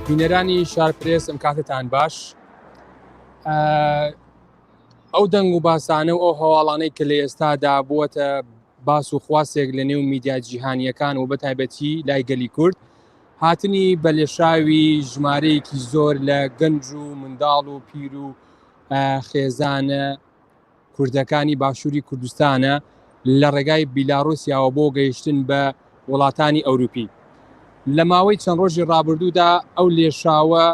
بینەرانی شارپرێس ئەم کاتتان باش ئەو دەنگ و باسانە و ئەو هەواڵانەی کە لە ئێستادا بووەتە باس و خواستێک لە نێو میدیا جیهانییەکان و بەتایبەتی لای گەلی کورد، هاتنی بە لێشاوی ژمارەیەکی زۆر لە گەنج و منداڵ و پیر و خێزانە کوردەکانی باشووری کوردستانە لە ڕێگای بیلاڕوسیاوە بۆ گەیشتن بە وڵاتانی ئەوروپی. لە ماوەی چەند ڕۆژی ڕابردوودا ئەو لێشاوە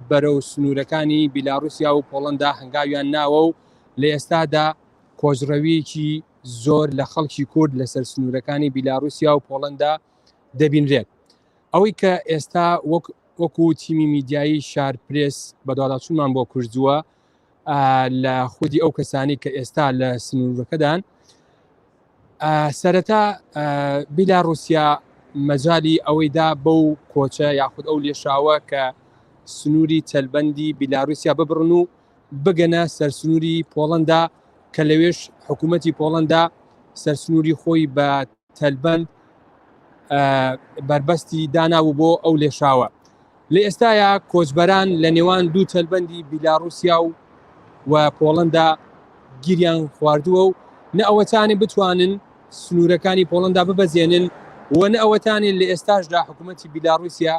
بەرەو سنوورەکانی بیلاڕوسیا و پۆڵەندا هەنگاویان ناوە و لە ئێستادا کۆچڕەویەکی زۆر لە خەڵکی کورد لەسەر سنوورەکانی بیلاڕوسیا و پۆڵەندا دەبینرێت ئەوەی کە ئێستا وەک وەکو تیمی میدیایی شار پرس بەداڵاچوونمان بۆ کوردووە لە خودی ئەو کەسانی کە ئێستا لە سنوورەکەدان سەرەتا بیلاڕوسیا مەجای ئەوەیدا بەو کۆچە یاخود ئەو لێشاوە کە سنووری تەلبەندی بیلاروسیا ببڕن و بگەنە سەرسنووری پۆڵەندا کە لەوێش حکوومەتی پۆڵەندا سەرسنووری خۆی بە تەلبەند بەربەستی داناوە بۆ ئەو لێشاوە لە ئێستایا کۆچبەران لە نێوان دوو تەلبەندی بیلاڕوسیا و و پۆڵەندا گیریان خواردووە و نە ئەوەتانی بتوانن سنوورەکانی پۆڵەندا ببەزێنن و نە ئەوەتانی لە ئێستاشدا حکوومەتتی بیلاڕوسیا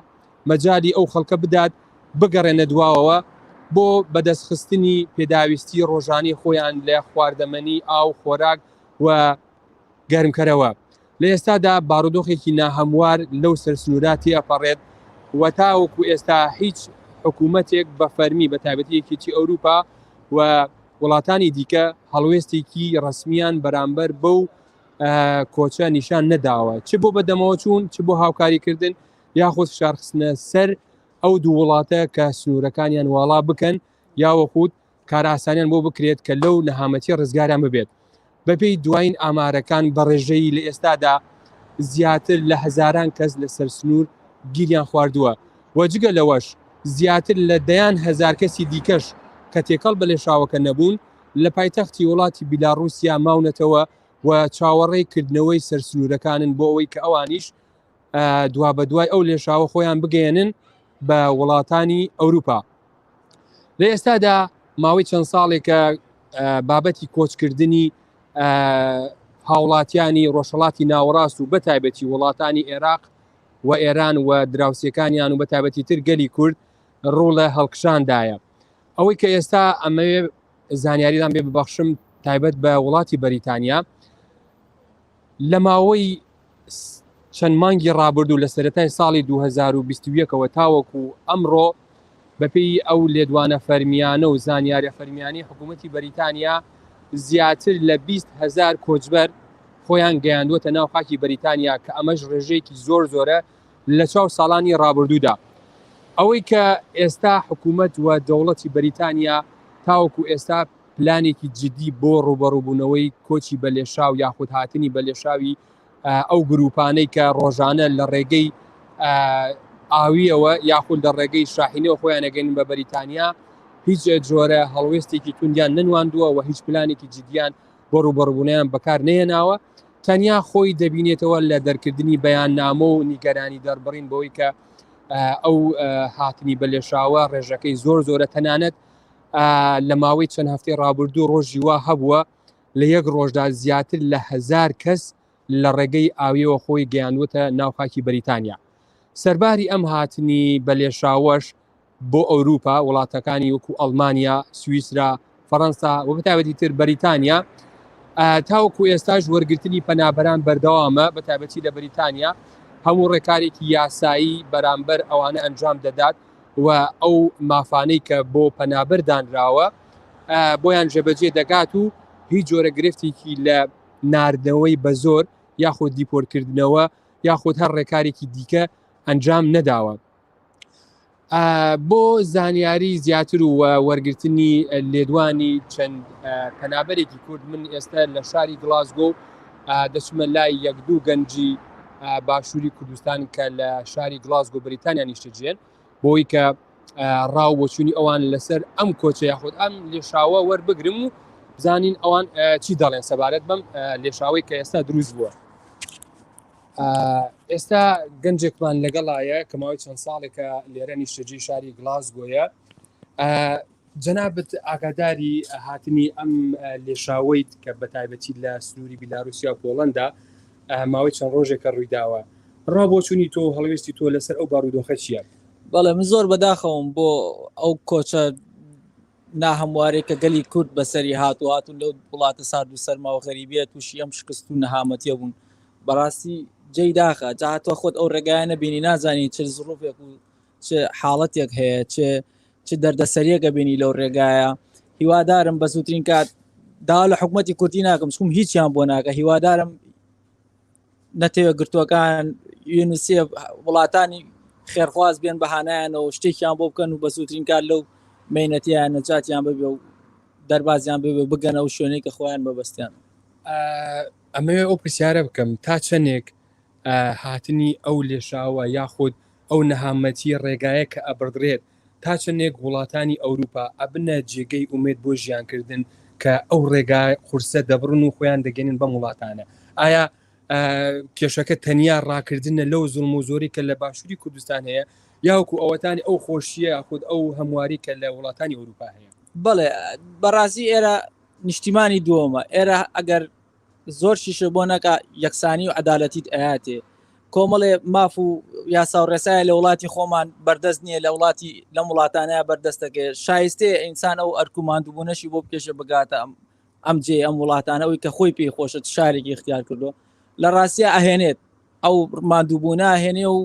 مەجالی ئەو خەڵکە بدات بگەڕێنە دواوەوە بۆ بەدەستخستنی پێداویستی ڕۆژانەی خۆیان لە خواردەمەنی، ئاو، خۆراک و گەرمکەرەوە. لە ئێستادا بارودۆخێکی ناهەموار لەو سەرسنوورە تێئەپەڕێت و تاوەکو ئێستا هیچ حکوومەتێک بە فەرمی بە تایبەتی یەکێتی ئەوروپا و وڵاتانی دیکە هەڵوێستێکی ڕەسمیان بەرامبەر بەو کۆچە نیشان نەداوە چ بۆ بەدەمەوەچوون چ بۆ هاوکاریکردن یاخود فشارخستنە سەر ئەو دوو وڵاتە کە سنوورەکانیان واڵا بکەن یاوەخود کارئاسانیان بۆ بکرێت کە لەو نەهامەتی ڕزگاریان ببێت بەپێی دوایین ئامارەکان بە ڕێژەیی لە ئێستادا زیاتر لە هەزاران کەس لەسەر سنوور گیریان خواردووە و جگە لەوەش زیاتر لە دەیان هەزار کەسی دیکەش کە تێکەڵ بە لێشاوەکە نەبوون لە پایتەختی وڵاتی بیلاڕوسیا ماونەتەوە و چاوەڕێی کردنەوەی سەرسنوورەکانن بۆ ئەوەی کە ئەوانیش دوابەدوای ئەو لێشاوە خۆیان بگەێنن بە وڵاتانی ئەوروپا لە ئێستادا ماوەی چەند ساڵێکە بابەتی کۆچکردنی هاوڵاتیانی ڕۆژهڵاتی ناوەڕاست و بەتایبەتی وڵاتانی عێراق و ئێران و دراوسەکانیان و بەتابەتی تر گەلی کورد ڕوو لە هەڵکشاندایە ئەوەی کە ئێستا ئەمەوێ زانیاریدان بێ ببەخشم تایبەت بە وڵاتی بەریتانیا لە ماوەی چەند مانگی ڕابردوو لە سەرەتای ساڵی 2021ەوە تاوەکو ئەمڕۆ بەپێی ئەو لێدوانە فەرمییانە و زانیاریە فەرمییانەی حکوومەتی بەریتانیا زیاتر لە 20 هزار کۆچبەر خۆیان گەیاندووەتە ناو خاکی بەریتانیا کە ئەمەش ڕێژەیەکی زۆر زۆرە لە چاو ساڵانی ڕابردوودا ئەوەی کە ئێستا حکوومەت و دەوڵەتی بەریتانیا تاوەکو ئێستا پلانێکی جدی بۆ ڕووبەڕووبوونەوەی کۆچی بەلێشاو یاخود هاتنی بەلێشاوی ئەو گرووپانەی کە ڕۆژانە لە ڕێگەی ئاوییەوە یاخود لە ڕێگەی شاحینەوە خۆیان ئەگەنن بە بەریتانیا، هیچ جۆرە هەڵوێستێکی توندیان نەنواندووە و هیچ پلانێکی جدییان بۆ ڕووبەڕووبوونەوەیان بەکار نەهێناوە، تەنیا خۆی دەبینێتەوە لە دەرکردنی بەیاننامە و نیگەرانی دەربڕین بەوەی کە ئەو هاتنی بەلێشاوە ڕێژەکەی زۆر زۆرە، تەنانەت لە ماوەی چەند هەفتەی ڕابردوو ڕۆژی وا هەبووە لە یەک ڕۆژدا زیاتر لە هزار کەس لە ڕێگەی ئاویەوە خۆی گەیاندوتە ناو خاکی بەریتانیا سەرباری ئەم هاتنی بەلێشاوەش بۆ ئەوروپا وڵاتەکانی وەکو ئەلمانیا سوئیسرا فەڕەنسا و بەتابەتی تر بەریتانیا تاوەکو ئێستاش وەرگرتنی پەنابەران بەردەوامە بە تابەتی لە بەریتانیا هەموو ڕێکارێکی یاسایی بەرامبەر ئەوانە ئەنجام دەدات و ئەو مافانەی کە بۆ پەنابەر دانراوە بۆیان جێبەجێ دەکات و هیچ جۆرە گرفتێکی لە ناردنەوەی بە زۆر یاخود دیپۆرکردنەوە یاخود هەر ڕێکارێکی دیکە ئەنجام نەداوە. بۆ زانیاری زیاتر و وەرگرتنی لێدوانی چەند پەنابەرێکی کورد من ئێستا لە شاری گلاسگۆ دەچمە لای یەک دوو گەنجی باشووری کوردستان کە لە شاری گلاسگۆ بریتانیا نیشتەجێن بۆی کە ڕاو بۆچوونی ئەوان لەسەر ئەم کۆچە یاخود ئەم لێشاوە وەربگرم و بزانین ئەوان چی دەڵێن سەبارەت بەم لێشاوەی کە ئێستا دروست بووە ئێستا گەنجێکمان لەگەڵایە کە ماوەی چەند ساڵێکە لێرە نیشتەجی شاری گلاسگۆیە جەنابت ئاگاداری هاتنی ئەم لێشاوەیت کە بە تایبەتی لە سنووری بیلاروسیا و پۆڵەندا ماوەی چەند ڕۆژێکە ڕوویداوە ڕا بۆ چووی تۆ هەڵوێستی تۆ لەسەر ئەو بارودۆخە چییە؟ بەڵێ من زۆر بەداخەوەم بۆ ئەو کۆچە ناهەموارێک کە گەلی کورد بەسەری هات و هاتون لەو وڵاتە سارد و سەرما و غەریبیە تووشی ئەم شکست و نەهامەتیە بوون بەڕاستی جێی داخە جاهاتوە خۆت ئەو ڕێگایە نەبینی نازانی چ زڕوفێک و چ حاڵەتێک هەیە چ چ دەردەسەریەکە بینی لەو ڕێگایە هیوادارم بە زووترین کات دا لە حکوومەتتی کوردی ناکەم سکوم هیچیان بۆ ناکە هیوادارم نەتەوە گرتووەکان یونسیە وڵاتانی خێرخواز بێن بەهانایانەوە شتێکیان بۆ بکەن و بە زووترین کار لەو مینەتیان نەجاتیان ببێ و دەربازیان بێ بگەنە و شوێنێک کە خۆیان بەبستیان ئەمەوێ ئەو پرسیارە بکەم تا چەندێک هاتنی ئەو لێشاوە یاخود ئەو نەهامەتیە ڕێگایە کە ئەبڕدرێت تا چەندێک وڵاتانی ئەوروپا ئەبنە جێگەی ئومێد بۆ ژیان کردن کە ئەو ڕێگا قورسە دەبڕن و خۆیان دەگەنن بەم وڵاتانە ئایا کێشەکە تەنیا ڕاکردنە لەو زڵم و زۆری کە لە باشووری کوردستان هەیە یاوکو ئەوەتانی ئەو خۆشیە خود ئەو هەمواری کە لە وڵاتانی ئەوروپا هەیە بەڵێ بەڕازی ئێرە نیشتیمانی دووەمە ئێرە ئەگەر زۆر شیشە بۆ نەکا یەکسانی و عدالەتیت ئەیاتێ کۆمەڵێ ماف و یاسا و ڕێسایە لە وڵاتی خۆمان بەردەست نییە لە وڵاتی لەم وڵاتانەیە بەردەستەکە شایستەیە ئینسان ئەو ئەرکوماندبوونەشی بۆ بکێشە بگاتە ئەم ئەم جێ ئەم وڵاتانە ئەوی کە خۆی پێی خۆشت شارێکی اختیار کردو لە ڕاستە ئەهێنێت ئەو مادووبوونا هێنێ و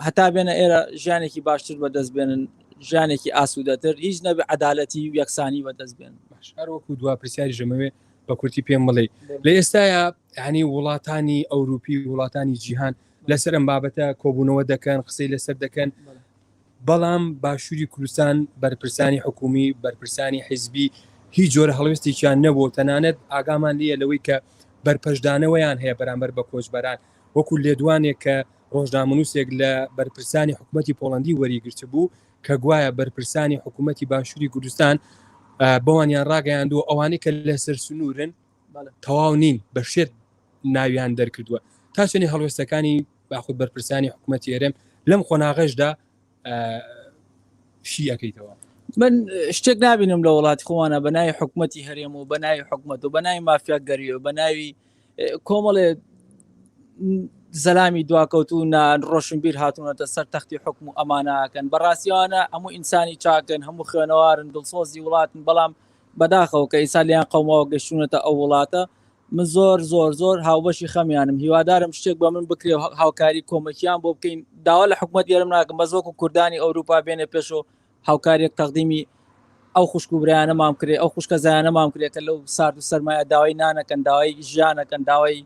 هەتا بێنە ئێرە ژیانێکی باشتر بەدەست بێنن ژیانێکی ئاسوودەتر هیچ نەبێ عدالەتی و یەکسانی بەدەست بێن هەروەکو دوا پرسیاری ژەمەوێ بە کورتی پێم بڵێ لە ئێستاە ینی وڵاتانی ئەوروپی وڵاتانی جیهان لەسەر ئەم بابەتە کۆبوونەوە دەکەن قسەی لەسەر دەکەن بەڵام باشووری کوردستان بەرپرسانی حکومی بەرپرسانی حیزبی هیچ جۆرە هەڵوێستێکیان نەبوو تەنانەت ئاگامان لە لەوەی کە بەرپەشدانەوەیان هەیە بەرامبەر بە کۆچبەران وەکو لێدوانێک کە ڕۆژنامەنووسێک لە بەرپرسانی حکوومەتی پۆڵەندی وەریگرتبوو کە گوایە بەرپرسانی حکوومەتی باشووری کوردستان بەوانیان ڕاگەیاندووە ئەوانەی کە لەسەر سنوورن تەواو نین بە شێت ناویان دەرکردووە تا شوێنی هەڵوێستەکانی باخود بەرپرسانی حکوومەتی هەرێم لەم قۆناغەشدا شی ئەەکەیتەوە من شتێک نبینم لە وڵاتی خۆوانە بە ناوی حکوومەتتی هەرێم و بە ناوی حکوومەت و بە ناوی مافیا گەریەوە بە ناوی کۆمەڵێ زەلامی دواکەوت و نان ڕۆشنبیر هاتوونەتە سەر تەختی حکم و ئەمانەکەن بەڕاستیانە هەموو ئینسانی چاکن هەموو خوێنەوارن دڵسۆزی وڵاتن بەڵام بەداخەوە کە ئیسا لیان قەومەوە گەشتونەتە ئەو وڵاتە من زۆر زۆر زۆر هاوبەشی خەمیانم هیوادارم شتێک بە من بکرێ هاوکاری کۆمەکیان بۆ بکەین داوا لە حکوومەت گەرم ناکەم بەزۆک و کوردانی ئەوروپا بێنە پێشەوە هاوکاریەک تەقدیمی ئەو خوشک و برایانەمان کرێ ئەو خوشکە زایانەمان کرێ کە لەو سارد و سەرمایە داوای نانەکەن داوای ژیانەکەن داوای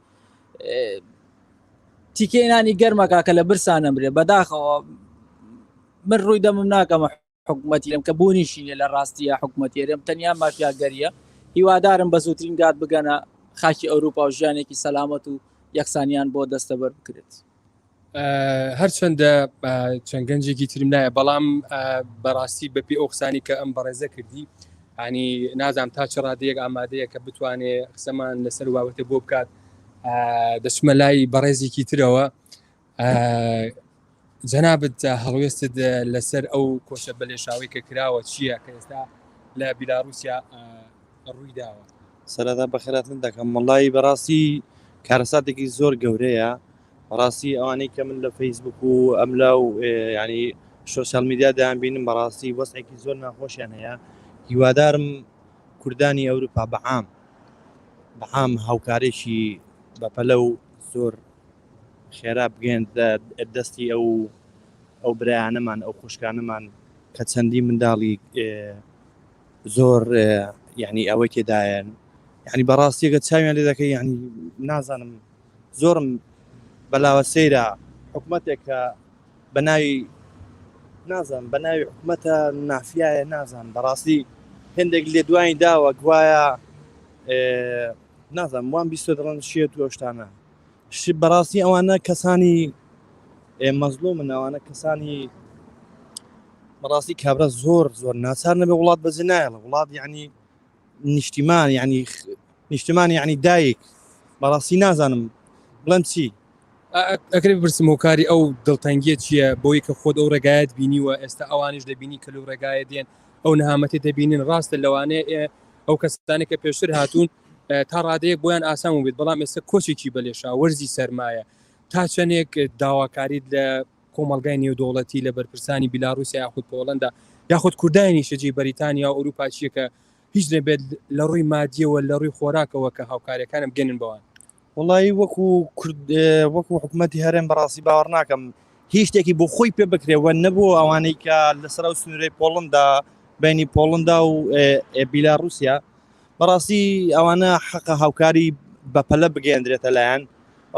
تیکێنانی گەرمەکە کە لە برسانە برێ بەداخەوە من ڕووی دەمم ناکەمە حکوومەتیرم کە بوونیشیە لە ڕاستیە حکوومەتێرم تەنیا مافیاگەریە هیوادارم بە زووترین گات بگەنە خاکی ئەوروپا و ژیانێکی سەلامەت و یەکسانیان بۆ دەستەبەر بکرێت. هەرچەندە چەند گەنجێکی ترم نایە بەڵام بەڕاستی بەپی ئەو قسانی کە ئەم بەڕێزە کردی ینی نازام تا چ ڕادەیەک ئامادەیە کە بتوانێ قسەمان لەسەر واوەتە بۆ بکات دەچمە لای بەڕێزێکی ترەوە جەنابەت هەڵوێستت لەسەر ئەو کۆشە بەلێشاوی کە کراوە چییە کە ئێستا لە بیلاروسیا ڕوویداوە. سەرەتا بەخێراتن دەکەم وەڵایی بەڕاستی کارەساتێکی زۆر گەورەیە بەڕاستی ئەوانەی کە من لە فەیسبوک و ئەم لا و ینی سوسیال میدیا دایان بینم بەڕاستی وەسێکی زۆر ناخۆشیان هەیە هیوادارم کوردانی ئەوروپا بەعام بەعام هاوکارێکی بەپەلە و زۆر خێرا بگەێن دەستی ئەو ئەو برایانەمان ئەو خوشکانەمان کە چەندی منداڵی زۆر یعنی ئەوەی تێدایەن یعنی بەڕاستیەکە چاویان لێ دەکەی یعنی نازانم زۆرم بەلاوە سەیرە حکوومەتێک کە بە ناوی نازان بە ناوی حکوومەتە نافیایە نازان بەڕاستی هندێک لێ دوای داوە گوایە نازانم وان بیست دڵن شێت و شتانە بەڕاستی ئەوانە کەسانی مەزلومن ئەوانە کەسانی بەڕاستی کابرا زۆر زۆر ناچار نەبێ وڵات بەجێ نایڵە وڵات یعنی نیشتیمان یعنی نیشتمان یعنی دایک بەڕاستی نازانم بڵند چی ئەکرێ بپرسم و کاری ئەو دڵتەنگیە چییە بۆی کە خۆت ئەو ڕێگایت بینیوە ئێستا ئەوانش دەبینی کە لەو ڕێگایە دێن ئەو نەهامەتی دەبینین ڕاستە لەوانەیە ئەو کەسستانی کە پێشتر هاتوون تا ڕادەیەک بۆیان ئاسان بێت بەڵام ئێستا کۆچێکی بەلێشا وەرزی سەرمایە تا چەندێک داواکاریت لە کۆمەلگای نێودوڵەتی لە بەرپرسانی بیلاروسیا یاخود پۆڵندا یاخود کوردانی شەجی بەریتانیا و ئەوروپاچیەکە هیچ نەبێت لە ڕووی مادیەوە لە ڕووی خۆراکەوە کە هاوکارەکانم گەنن بەوان وەڵایی وەکو کورد وەکو حکوومەتتی هەرێم بەڕاستی باوەڕ ناکەم هیچ شتێکی بۆ خۆی پێ بکرێەوە نەبوو ئەوانەی کە لەسەر ئەو سنوورەی پۆڵندا بینی پۆڵندا و بیلا رووسیا بەڕاستی ئەوانە حەقە هاوکاری بەپەلە بگەێندرێتە لایەن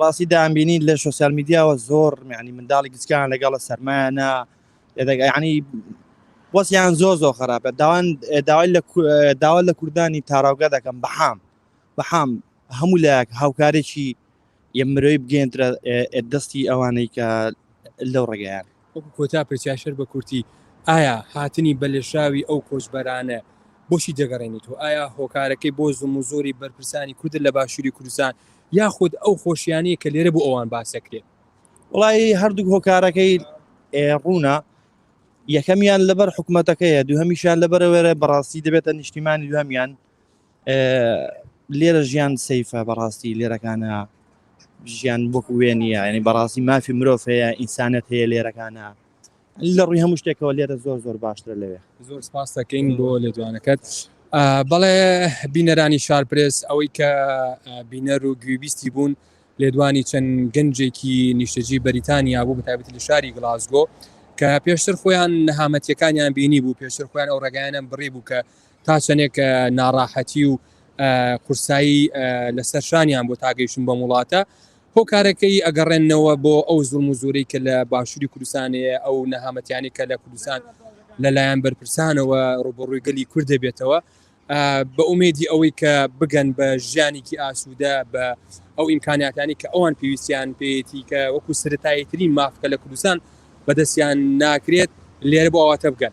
ڕاستی دامبینی لە سوسیال میدیاوە زۆر میانی منداڵی گچکان لەگەڵە سەرمایانە ینی وەسیان زۆر زۆر خراپە داوان داوای لە داوا لە کوردانی تاراوگە دەکەم بەحام بەحام هەموو لایەک هاوکارێکی یە مرۆی بگەێنرە دەستی ئەوانەی کە لەو ڕێگەیان کۆتا پرسیاشر بە کورتی ئایا هاتنی بەلێشاوی ئەو کۆچبەرانە بۆچی دەگەڕێنیت و ئایا هۆکارەکەی بۆ زم و زۆری بەرپرسانی کورد لە باشووری کوردستان یاخود ئەو خۆشیانی کە لێرە بۆ ئەوان باسەکرێت وڵی هەردوو هۆکارەکەی ڕوونە یەکەمیان لەبەر حکوومەتەکەیە دوو هەمیشان لەبەرەوەێ بەڕاستی دەبێتە نیشتیمانی دوهمیان لێرە ژیان سەیفە بەڕاستی لێرەکانە ژیان بۆک وێ نیە ینی بەڕاستی مافی مرۆڤ هەیە ئینسانەت هەیە لێرەکانە لە ڕووی هەموو شتێکەوە لێرە زۆر زۆر باشترە لەوێ زۆر سپاس دەکەین بۆ لێدوانەکەت بەڵێ بینەرانی شارپرس ئەوەی کە بینەر و گوێبیستی بوون لێدوانی چەند گەنجێکی نیشتەجی بەریتانیا بوو بەتابەتی لە شاری گلاسگۆ کە پێشتر خۆیان نەهامەتیەکانیان بینی بوو پێشتر خۆیان ئەو ڕێگایانیان بڕی بوو کە تا چەندێک ناڕاحەتی و قورسایی لەسەر شانیان بۆ تاگەیشتن بەم وڵاتە هۆکارەکەی ئەگەڕێنەوە بۆ ئەو زوڵم و زۆرەی کە لە باشووری کوردستانەیە ئەو نەهامەتیانی کە لە کوردستان لەلایەن بەرپرسانەوە ڕوبەڕووی گەلی کورد دەبێتەوە بە ئومێدی ئەوەی کە بگەن بە ژیانێکی ئاسوودە بە ئەو ئیمکاناتانی کە ئەوان پێویستیان پێیەتی کە وەکو سرتاییترین مافکە لە کوردستان بەدەستیان ناکرێت لێرە بۆ ئاواتە بگەن